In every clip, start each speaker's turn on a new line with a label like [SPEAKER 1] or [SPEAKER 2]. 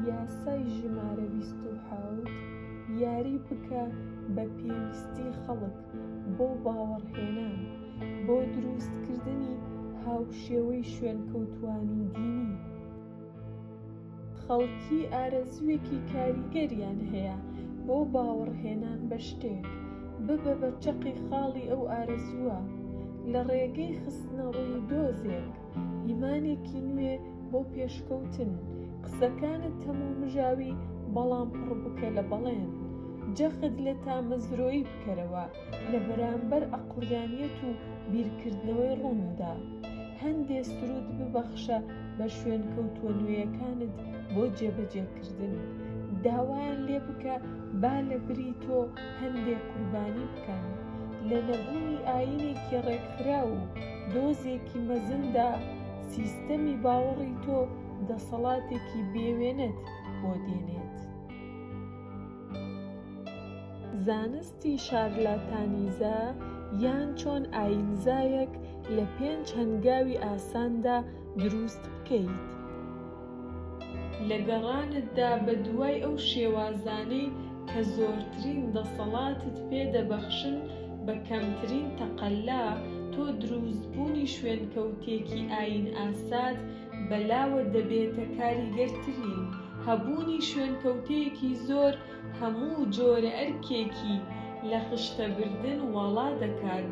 [SPEAKER 1] یاسای ژمارە بیست و حەوت یاری بکە بە پێویستی خەڵک بۆ باوەڕهێنان بۆ دروستکردنی هاوشێوەی شوێنکەوتوانی دینی خەڵکی ئارەزووێکی کاریگەریان هەیە بۆ باوەڕهێنان بە شتێک ببە بە چەقی خاڵی ئەو ئارەزووە لە ڕێگەی خستنەڕووی دۆزێک. ئیمانێکی نوێ بۆ پێشکەوتن قسەکانت تەمومژاوی بەڵام پڕبکە لە بەڵێن جەخت لە تامەزرۆیی بکەرەوە لە بەرامبەر ئەقڵیانیەت و بیرکردنەوەی ڕووندا هەندێ سرود ببەخشە بە شوێن کەوتوە نوێیەکانت بۆ جێبەجێکردن داوایان لێبکە با لە بری تۆ هەندێ قوربانی بکەن، لە نەبوونی ئایینێکی ڕێکخراو و دۆزێکی مەزندا، سیستەمی باوەڕی تۆ دەسەڵاتێکی بێوێنەت بۆ دێنێت. زانستی شارلاتانیزە یان چۆن ئایینزایەک لە پێنج هەنگاوی ئاساندا، دروست بکەیت. لە گەڕانتدا بە دوای ئەو شێوازانەی کە زۆرترین دەسەڵاتت پێ دەبەخشن بە کەمترین تەقەلا، تۆ دروستبوونی شوێنکەوتێکی ئایینئاسات بەلاوە دەبێتە کاریگەرترین. هەبوونی شوێنکەوتێکی زۆر هەموو جۆرە ئەرکێکی لە خشتەبردن واڵا دەکات.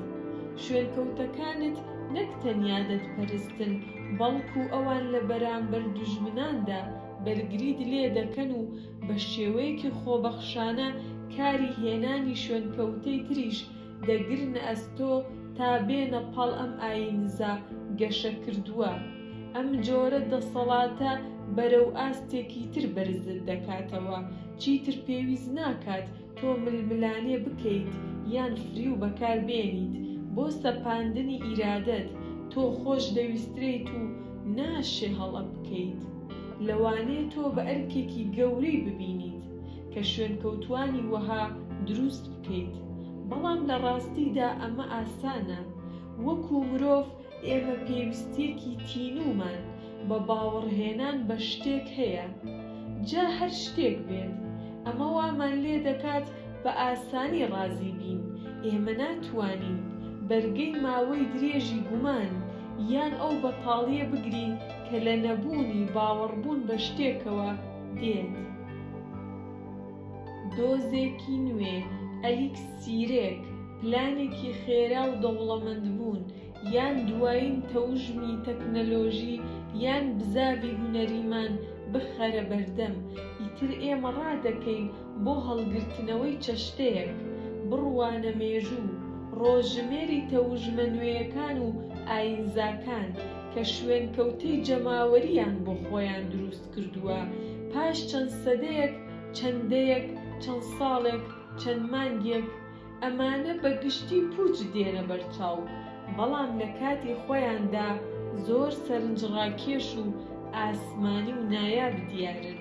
[SPEAKER 1] شوێنکەوتەکانت نەک تەنیا دەتپەرستن، بەڵکوو ئەوان لە بەرامبەر دوژمناندا بەرگریت لێ دەکەن و بە شێوەیەکی خۆبەخشانە کاری هێنانی شوێنکەوتەی تریش دەگرنە ئەستۆ تا بێنە پاڵ ئەم ئایینزا گەشەکردووە، ئەم جۆرە دەسەڵاتە بەرەو ئاستێکی تر بەرزت دەکاتەوە، چیتر پێویست ناکات تۆ ململانێ بکەیت یان فریو بەکار بێنیت بۆ سەپاندنی ئیرادەت، تۆ خۆش دەویسترێیت و ناشێ هەڵە بکەیت، لەوانەیە تۆ بە ئەرکێکی گەورەی ببینیت، کە شوێنکەوتووانی وەها دروست بکەیت، بەڵام لە ڕاستیدا ئەمە ئاسانە. وەکو مرۆڤ ئێمە پێویستییەکی تینوومان بە باوەڕهێنان بە شتێک هەیە، جا هەر شتێک بێت. ئەمە وامان لێ دەکات بە ئاسانی ڕازی بین. ئێمە ناتوانین بەرگەی ماوەی درێژی گومان یان ئەو بەتاڵییە بگرین کە لە نەبوونی باوەڕبوون بە شتێکەوە، دێت دۆزێکی نوێ، ئەلیکسیرێک، پلانێکی خێرا و دەوڵەمەندبوون، یان دوایین تەوژمی تەکنەلۆژی یان بزاڤی هونەریمان بخەرە بەردەم، ئیتر ئێمە ڕادەکەین بۆ هەڵگرتنەوەی چەشتەیەک، بڕوانە مێژوو، ڕۆژژمێری تەوژمە نوێیەکان و ئایینزاکان، کە شوێنکەوتەی جەماوەرییان بۆ خۆیان دروست کردووە، پاش چەند سەدەیەک، چەند دەیەک، چەند ساڵێک، چەند مانگێک، ئەمانە بە گشتی پووچ دێنە بەرچاو، بەڵام لە کاتی خۆیاندا زۆر سەرنجڕاکێش و ئاسمانی و نایاب دیارن.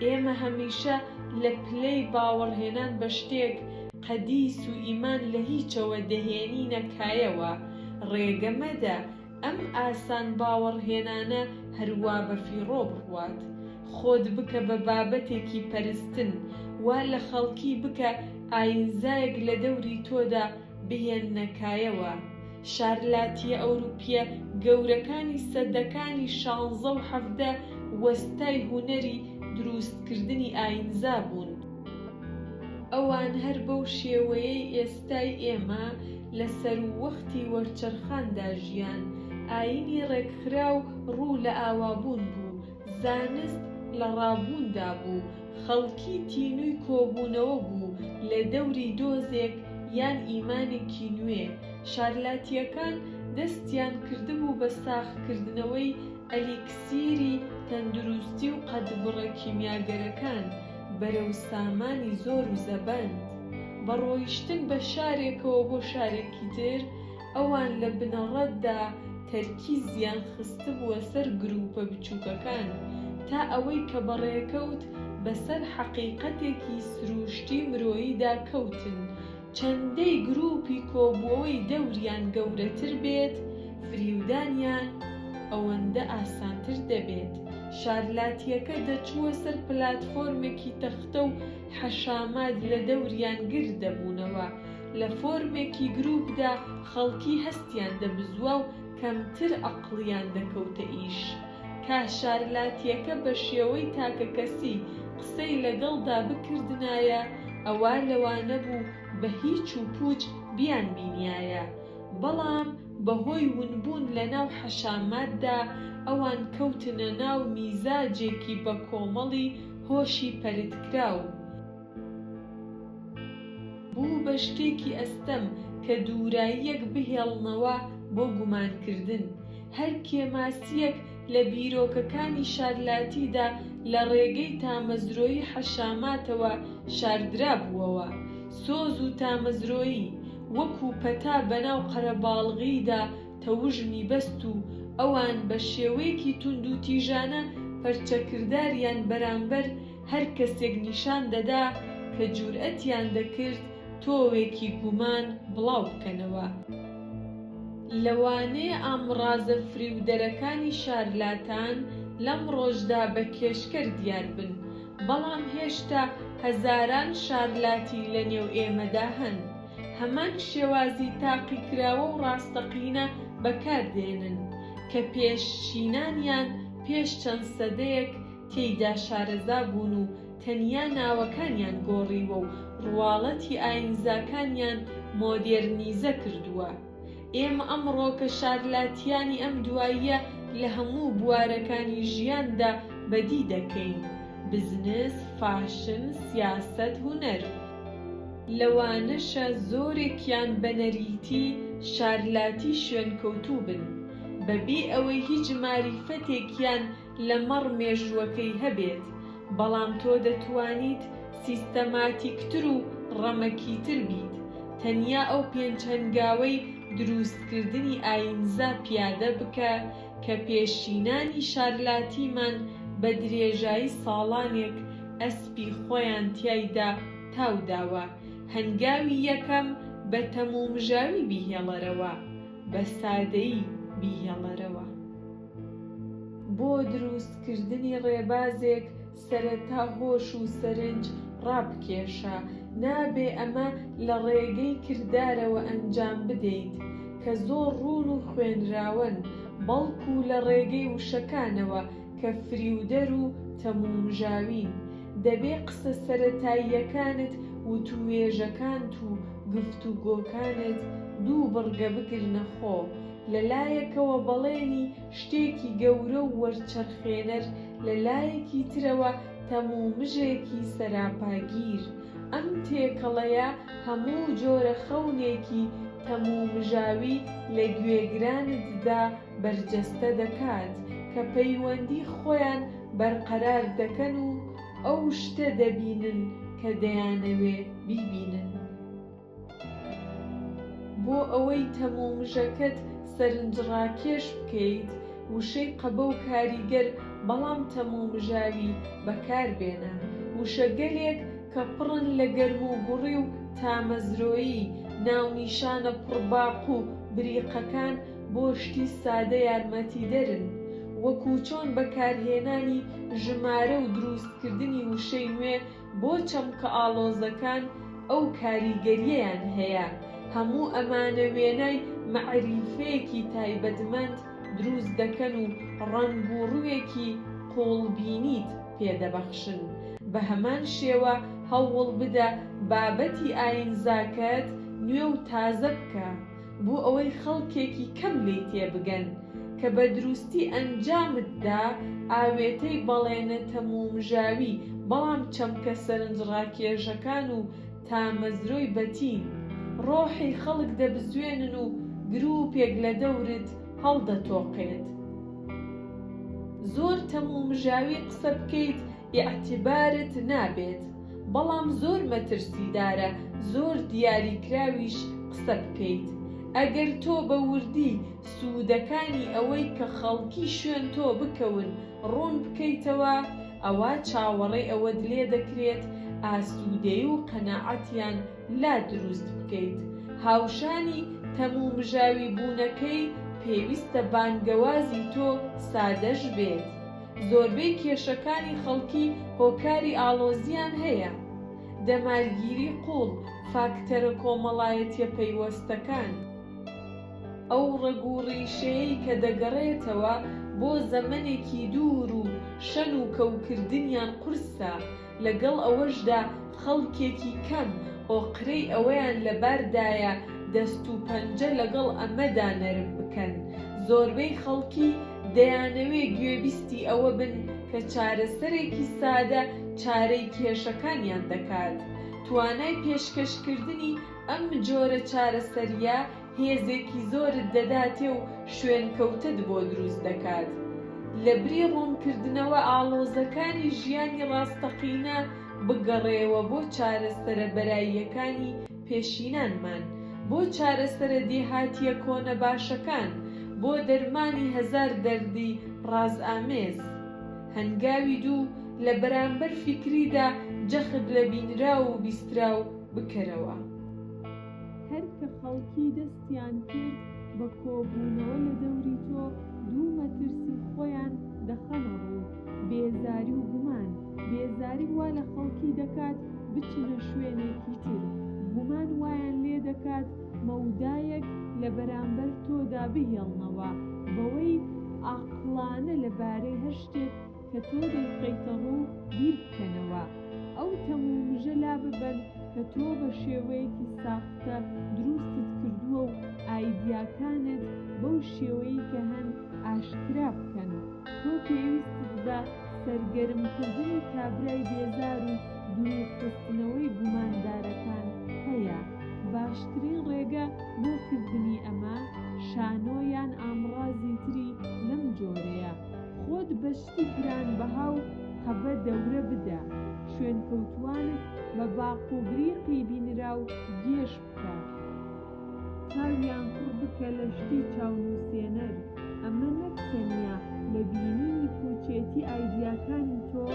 [SPEAKER 1] ئێمە هەمیشە لە پلەی باوەڕهێنان بە شتێک، قەدیس و ئیمان لە هیچەوە دەهێنینە کایەوە، ڕێگە مەدە ئەم ئاسان باوەڕ هێنانە هەر وا بە فیڕۆ بڕوات. خۆت بکە بە بابەتێکی پەرستن، وا لە خەڵکی بکە ئایینزایەک لە دەوری تۆدا بهێننە کایەوە. شارلاتییە ئەوروپییە گەورەکانی سەدەکانی شانزە و حەڤدە وەستای هونەری درووستکردنی ئایینزا بوون. ئەوان هەر بەو شێوەیەی ئێستا. ئێستای ئێمە لە سەرووەختی وەرچەرخاندا ژیان، ئایینی ڕێکخراو ڕوو لە ئاوابوون بوو، زانست لە ڕابووندا بوو، خەڵکی تینووی کۆبوونەوە بوو لە دەوری دۆزێک یان ئیمانێکی نوێ، شارلاتییەکان دەستیان کردبوو بە ساغکردنەوەی ئەلیکسیری تەندروستی و قەدبڕە کیمیاگەرەکان، بەرەو سامانی زۆر و زەبەند، بە ڕۆیشتن بە شارێکەوە بۆ شارێکی تر، ئەوان لە بنەڕەتدا تەرکیزیان خستبووە سەر گرووپە بچووکەکان، تا ئەوەی کە بە ڕێکەوت بەسەر حەقیقەتێکی سرووشتی مرۆییدا کەوتن، چەندەی گروپی کۆبوەوەی دەوریان گەورەتر بێت فریودانیان ئەوەندە ئاسانتر دەبێت. شارلاتیەکە دەچووە سەر پلاتفۆرمێکی تەختە و حەشامات لە دەوریان گرد دەبوونەوە. لە فۆرمێکی گروپدا خەڵکی هەستیان دەبزوا و کەمتر ئەقڵیان دەکەوتە ئیش. کاشارلاتیەکە بە شێوەی تاکەکەسی قسەی لەگەڵدا بکردنایە ئەوا لەوانەبوو بە هیچ و پووچ بیانبینیایە، بەڵام بەهۆی ونبوون لەناو حەشاماتدا ئەوان کەوتنە ناو میزاجێکی بەکۆمەڵی هۆشی پەرتکراو. بوو بە شتێکی ئەستەم کە دووراییەک بهێڵنەوە بۆ گومانکردن. هەر کێماسییەک لە بیرۆکەکانی شارلاتیدا لە ڕێگەی تامەزرۆی حەشاماتەوە شاردرابووەوە. سۆز و تامەزرۆیی، وەکوو پەتا بەناو قەرەباڵغییدا تەوژمی بەست و ئەوان بە شێوەیەکی توندوتیژانە پەرچەکرداریان بەرامبەر هەر کەسێک نیشان دەدا کە جورئەتیان دەکرد تۆوێکی گومان بڵاو بکەنەوە. لەوانەیە ئامڕازە فریودەرەکانی شارلاتان لەم ڕۆژدا بە کێشکەر دیار بن، بەڵام هێشتا هەزاران شارلاتی لە نێو ئێمەدا هەن هەمان شێوازی تاقیکراوە و ڕاستەقینە بەکار دێنن کە پێشچینانیان پێش چەند سەدەیەک تێیدا شارەزا بوون و تەنیا ناوەکانیان گۆڕیوە و ڕواڵەتی ئایینزاکانیان مۆدێرنیزە کردووە. ئێمە ئەمڕۆ کە شارلاتیانی ئەم دواییە لە هەموو بوارەکانی ژیاندا بەدی دەکەین، بزنس، فاشن، سیاسەت، هونەر. لەوانەشە زۆرێکیان بە نەریتی شارلاتی شوێنکەوتوو بن، بەبێ ئەوەی هیچ ماریفەتێکیان لەمەڕ مێژووەکەی هەبێت، بەڵام تۆ دەتوانیت سیستەماتیکتر و ڕەمەکیتر بیت، تەنیا ئەو پێنج هەنگاوەی درووستکردنی ئایینزا پیادە بکە کە پێشینانی شارلاتیمان بە درێژایی ساڵانێک ئەسپی خۆیان تیایدا تاو داوە، هەنگاوی یەکەم بە تەمومژاوی بیهێڵەرەوە، بە سادەیی بیهێڵەرەوە. بۆ دروست کردنی ڕێبازێک سەرەتا هۆش و سەرنج ڕابکێشە، نابێ ئەمە لە ڕێگەی کردارەوە ئەنجام بدەیت کە زۆر ڕوون و خوێنراوەن، بەڵکو لە ڕێگەی وشەکانەوە کە فریودەر و تەمومژاوین، دەبێ قسە سەرەتاییەکانت وتووێژەکانت و گفتوگۆکانت دوو بڕگە بگرنە خۆ، لە لایەکەوە بەڵێنی شتێکی گەورە و وەرچەرخێنەر، لە لایەکی ترەوە تەمومژێکی سەراپاگیر. ئەم تێکەڵەیە هەموو جۆرە خەونێکی تەمومژاوی لە گوێگرانتدا بەرجەستە دەکات، کە پەیوەندی خۆیان بەرقەرار دەکەن و ئەو شتە دەبینن کە دەیانەوێ بیبینن. بۆ ئەوەی تەمومژەکەت سەرنجڕاکێش بکەیت، وشەی قەبە و کاریگەر بەڵام تەمومژاوی بەکاربێنە. وشەگەلێک کە پڕن لە گەرموگوڕی و تامەزرۆیی، ناونیشانە پڕباق و بریقەکان بۆ شتی سادە یارمەتیدەرن، وەکو چۆن بەکارهێنانی ژمارە و دروستکردنی وشەی نوێ بۆ چەمکە ئاڵۆزەکان ئەو کاریگەریەیان هەیە، هەموو ئەمانە وێنای مەعریفەیەکی تایبەتمەند دروست دەکەن و ڕەنگ و ڕووێکی قووڵبینیت پێ دەبەخشن. بە هەمان شێوە هەوڵ بدە بابەتی ئایینزاکەت نوێ و تازە بکە، بۆ ئەوەی خەڵکێکی کەم لێی تێبگەن کە بە دروستی ئەنجامتدا ئاوێتەی بەڵێنە تەمومژاوی بەڵام چەمکە سەرنجڕاکێژەکان و تامەزرۆی بەتین ڕۆحی خەڵک دەبزوێنن و گروپێک لە دەورت هەڵدەتۆقێت زۆر تەمومژاوی قسە بکەیت ئیعتبارت نابێت بەڵام زۆر مەترسیدارە زۆر دیاری کراویش قسە بکەیت ئەگەر تۆ بە وردی سودەکانی ئەوەی کە خەڵکی شوێن تۆ بکەون ڕوون بکەیتەوە ئەوا چاوەڕێ ئەوەت لێ دەکرێت ئاسودەی و قەناعەتیان لا دروست بکەیت هاوشانی تەمومژاوی بوونەکەی پێویستە بانگەوازی تۆ سادەش بێت زۆربەی کێشەکانی خەڵکی هۆکاری ئاڵۆزییان هەیە، دەمارگیری قووڵ، فاکتەرە کۆمەڵایەتییە پەیوەستەکان، ئەو ڕەگ و ڕیشەیەی کە دەگەڕێتەوە بۆ زەمەنێکی دوور و شەن و کەوکردنیان قورسە، لەگەڵ ئەوەشدا خەڵکێکی کەم ئۆقرەی ئەوەیان لەباردایە دەست و پەنجە لەگەڵ ئەمەدا نەرم بکەن، زۆربەی خەڵکی دەیانەوێ گوێبیستی ئەوە بن کە چارەسەرێکی سادە چارەی کێشەکانیان دەکات. توانای پێشکەشکردنی ئەم جۆرە چارەسەرییە هێزێکی زۆرت دەداتێ و شوێنکەوتەت بۆ دروست دەکات. لە بری ڕوونکردنەوە ئاڵۆزەکانی ژیانی ڕاستەقینە، بگەڕێوە بۆ چارەسەرە بەراییەکانی پێشینانمان، بۆ چارەسەرە دێهاتییە کۆنە باشەکان، بۆ دەرمانی هەزار دەردی ڕازئامێز. هەنگاوی دوو، لە بەرامبەر فیکریدا جەخت لە بینراو و بیستراو بکەرەوە. هەر کە خەڵکی دەستیان کرد بە کۆبوونەوە لە دەوری تۆ، دوو مەترسی خۆیان دەخەنە ڕوو، بێزاری و گومان. بێزاری وا لە خەڵکی دەکات بچنە شوێنێکی تر، گومان وایان لێ دەکات مەودایەک لە بەرامبەر تۆدا بهێڵنەوە بەوەی عەقڵانە لەبارەی هەر شتێک کە تۆ دەیخەیتە ڕوو بیر بکەنەوە، ئەو تەم و مژە لا ببەن کە تۆ بە شێوەیەکی ساختە دروستت کردووە و ئایدیاکانت بەو شێوەیەی کە هەن ئاشکرا بکەن. تۆ پێویستت بە سەرگەرمکردنی کابرای بێزار و دوورخستنەوەی گوماندارەکان هەیە. باشترین ڕێگە بۆ کردنی ئەمە، شانۆ یان ئامڕازی تری لەم جۆرەیە. خۆت بە شتی گران بەها و قەبە دەورە بدە، شوێنکەوتووانت بە باق و بریقی بینراو گێژ بکە، چاویان کوڕ بکە لە شتی چاونووسێنەر، ئەمە نەک تەنیا لە بینینی پووچێتی ئایدیاکانی تۆ،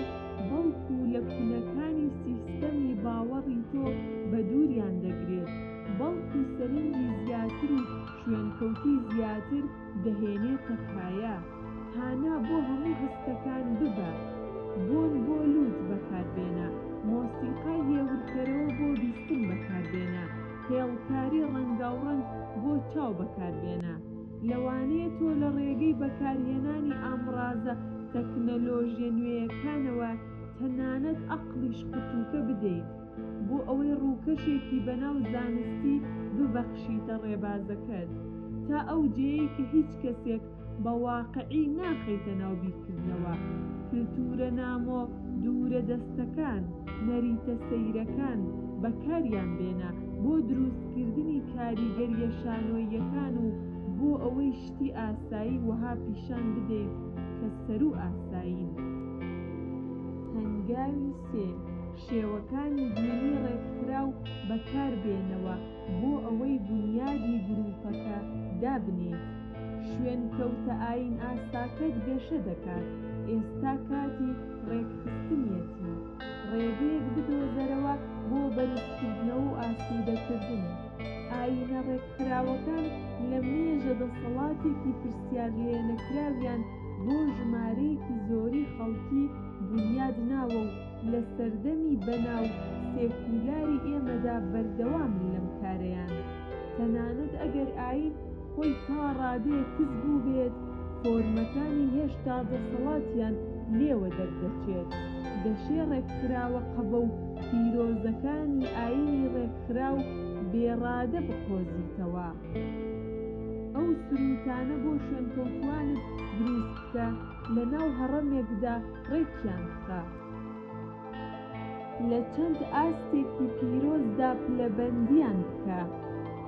[SPEAKER 1] بەڵکو لە کونەکانی سیستەمی باوەڕی تۆ بە دووریان دەگرێت، بەڵکو سەرنجی زیاتر و شوێنکەوتووی زیاتر دەهێنێتە کایە هانا بۆ هەموو هەستەکان ببە بۆن بۆ لووت بەکاربێنە مۆسیقای هێورکەرەوە بۆ بیستن بەکاربێنە هێڵکاری ڕەنگاوڕەنگ بۆ چاو بەکاربێنە لەوانەیە تۆ لە ڕێگەی بەکارهێنانی ئامڕازە تەکنەلۆژیە نوێیەکانەوە تەنانەت ئەقڵیش قوتووکە بدەیت بۆ ئەوەی ڕووکەشێکی بەناو زانستی ببەخشیتە ڕێبازەکەت، تا ئەو جێیەی کە هیچ کەسێک بە واقعی ناخەیتە ناو بیرکردنەوە، کلتوورە نامۆ دوورە دەستەکان، نەریتە سەیرەکان بەکاریان بێنە بۆ درووستکردنی کاریگەرییە شانۆییەکان و بۆ ئەوەی شتی ئاسایی وەها پیشان بدەیت کە سەروو ئاسایین. هەنگاوی سێ. شێوەکانی بینی ڕێکخراو بەکاربێنەوە بۆ ئەوەی بونیادی گروپەکە دابنێیت. شوێنکەوتە ئاینئاساکەت گەشە دەکات، ئێستا کاتی ڕێکخستنیەتی. ڕێگەیەک بدۆزەرەوە بۆ بەرزکردنەوە و ئاسودەکردن. ئاینە ڕێکخراوەکان لە مێژە دەسەڵاتێکی پرسیارلێنەکراویان بۆ ژمارەیەکی زۆری خەڵکی بونیادناوە و، لە سەردەمی بەناو سێکولاری ئێمەدا بەردەوامن لەم کارەیانە، تەنانەت ئەگەر ئایین خۆی تا ڕادەیەک کز بووبێت، فۆرمەکانی هێشتا دەسەڵاتیان لێوە دەردەچێت، دەشێ ڕێکخراوە قەبە و پیرۆزەکانی ئایینی ڕێکخراو بێڕادە بقۆزیتەوە. ئەو سرووتانە بۆ شوێنکەوتووانت دروست بکە لەناو هەڕەمێکدا، ڕێکیان خا. لە چەند ئاستێکی پیرۆزدا پلەبەندیان بکە،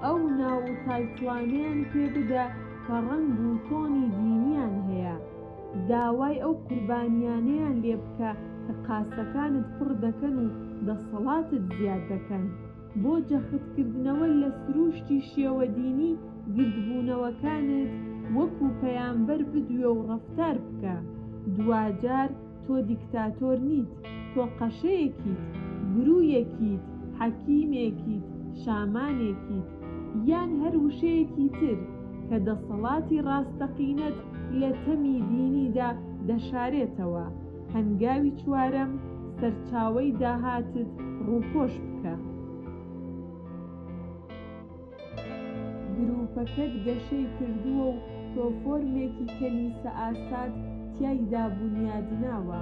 [SPEAKER 1] ئەو ناو و تایتڵانەیان پێ بدە کە ڕەنگ و تۆنی دینیان هەیە، داوای ئەو قوربانییانەیان لێ بکە کە قاسەکانت پڕ دەکەن و دەسەڵاتت زیاد دەکەن. بۆ جەختکردنەوە لە سرووشتی شێوە دینی گردبوونەوەکانت وەکو پەیامبەر بدوێ و ڕەفتار بکە، دواجار تۆ دیکتاتۆر نیت، تۆ قەشەیەکیت، گروویەکیت، حەکیمێکیت، شامانێکیت، یان هەر وشەیەکی تر کە دەسەڵاتی ڕاستەقینەت لە تەمی دینیدا دەشارێتەوە. هەنگاوی چوارەم، سەرچاوەی داهاتت ڕووپۆش بکە. گرووپەکەت گەشەی کردووە و تۆ فۆرمێکی کەنیسەئاسات تیایدا بونیادناوە.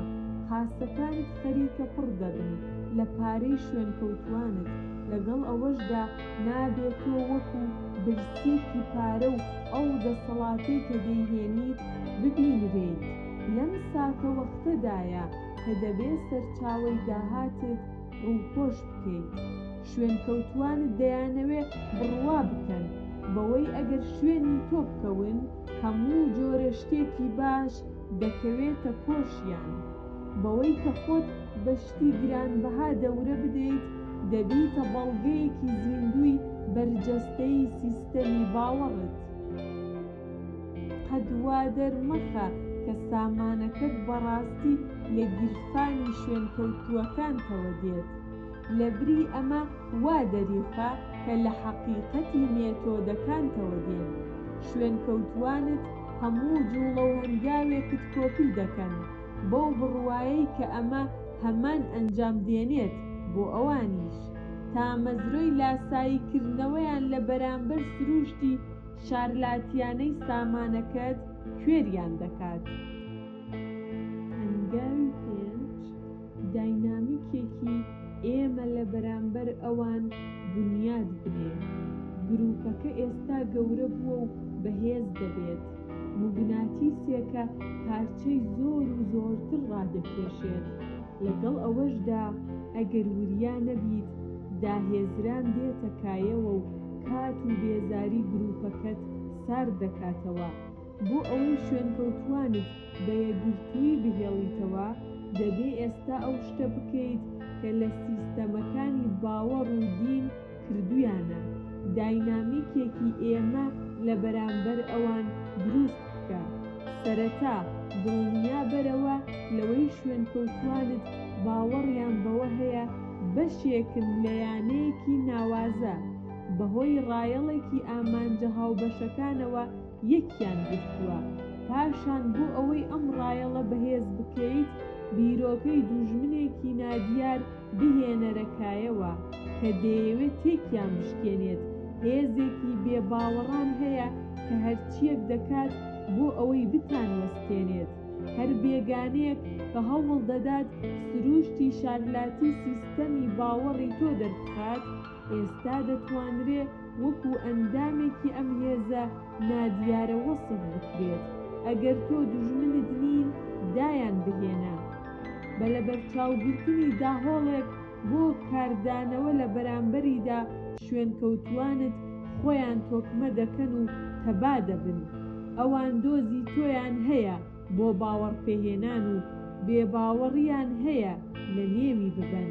[SPEAKER 1] قاسەکانت خەریکە پڕ دەبن لە پارەی شوێنکەوتووانت، لەگەڵ ئەوەشدا نابێ تۆ وەکو برسییەکی پارە و ئەو دەسەڵاتەی کە دەیهێنیت ببینرێیت. لەم ساتەوەختەدایە کە دەبێ سەرچاوەی داهاتت ڕووپۆش بکەیت. شوێنکەوتووانت دەیانەوێ بڕوا بکەن بەوەی ئەگەر شوێنی تۆ بکەون، هەموو جۆرە شتێکی باش دەکەوێتە کۆشیان. بەوەی کە خۆت بە شتی گرانبەها دەورە بدەیت، دەبیتە بەڵگەیەکی زیندووی بەرجەستەیی سیستەمی باوەڕت. قەت وا دەرمەخە کە سامانەکەت بەڕاستی لە گیرفانی شوێنکەوتووەکانتەوە دێت. لەبری ئەمە وا دەریخە کە لە حەقیقەتی مێتۆدەکانتەوە دێن. شوێنکەوتووانت هەموو جووڵە و هەنگاوێکت کۆپی دەکەن، بەو بڕوایەی کە ئەمە هەمان ئەنجام دێنێت بۆ ئەوانیش. تامەزرۆی لاساییکردنەوەیان لە بەرامبەر سرووشتی شارلاتیانەی سامانەکەت کوێریان دەکات. هەنگاوی پێنج، داینامیکێکی ئێمە لە بەرامبەر ئەوان بونیاد بنێ. گروپەکە ئێستا گەورە بووە و بەهێز دەبێت. موگناتیسێکە پارچەی زۆر و زۆرتر ڕادەکێشێت. لەگەڵ ئەوەشدا ئەگەر وریا نەبیت، داهێزران دێتە کایەوە و کات و بێزاری گروپەکەت سارد دەکاتەوە. بۆ ئەوەی شوێنکەوتووانت بە یەکگرتوویی بهێڵیتەوە، دەبێ ئێستا ئەو شتە بکەیت کە لە سیستەمەکانی باوەڕ و دین کردوویانە. داینامیکێکی ئێمە لە بەرامبەر ئەوان دروست بکە سەرەتا دڵنیا بەرەوە لەوەی شوێنکەوتوانت باوەڕیان بەوە هەیە بەشێکن لە یانەیەکی ناوازە بەهۆی ڕایەڵێکی ئامانجە هاوبەشەکانەوە یەکیان گرتووە پاشان بۆ ئەوەی ئەم ڕایەڵە بەهێز بکەیت بیرۆکەی دووژمنێکی نادیار بهێنەرە کایەوە کە دەیەوێت تێکیان بشکێنێت، هێزێکی بێ باوەڕان هەیە کە هەرچییەک دەکات بۆ ئەوەی بتانوەستێنێت، هەر بێگانەیەک کە هەوڵ دەدات سرووشتی شارلاتی سیستەمی باوەڕی تۆ دەربخات، ئێستا دەتوانرێ وەکو ئەندامێکی ئەم هێزە نادیارە وەسف بکرێت، ئەگەر تۆ دوژمنت نین دایان بهێنە. بە لەبەرچاوگرتنی داهۆڵێک بۆ کاردانەوە لە بەرامبەریدا شوێنکەوتووانت خۆیان تۆکمە دەکەن و تەبا دەبن. ئەوان دۆزی تۆیان هەیە بۆ باوەڕپێهێنان و بێباوەڕیان هەیە لە نێوی ببەن.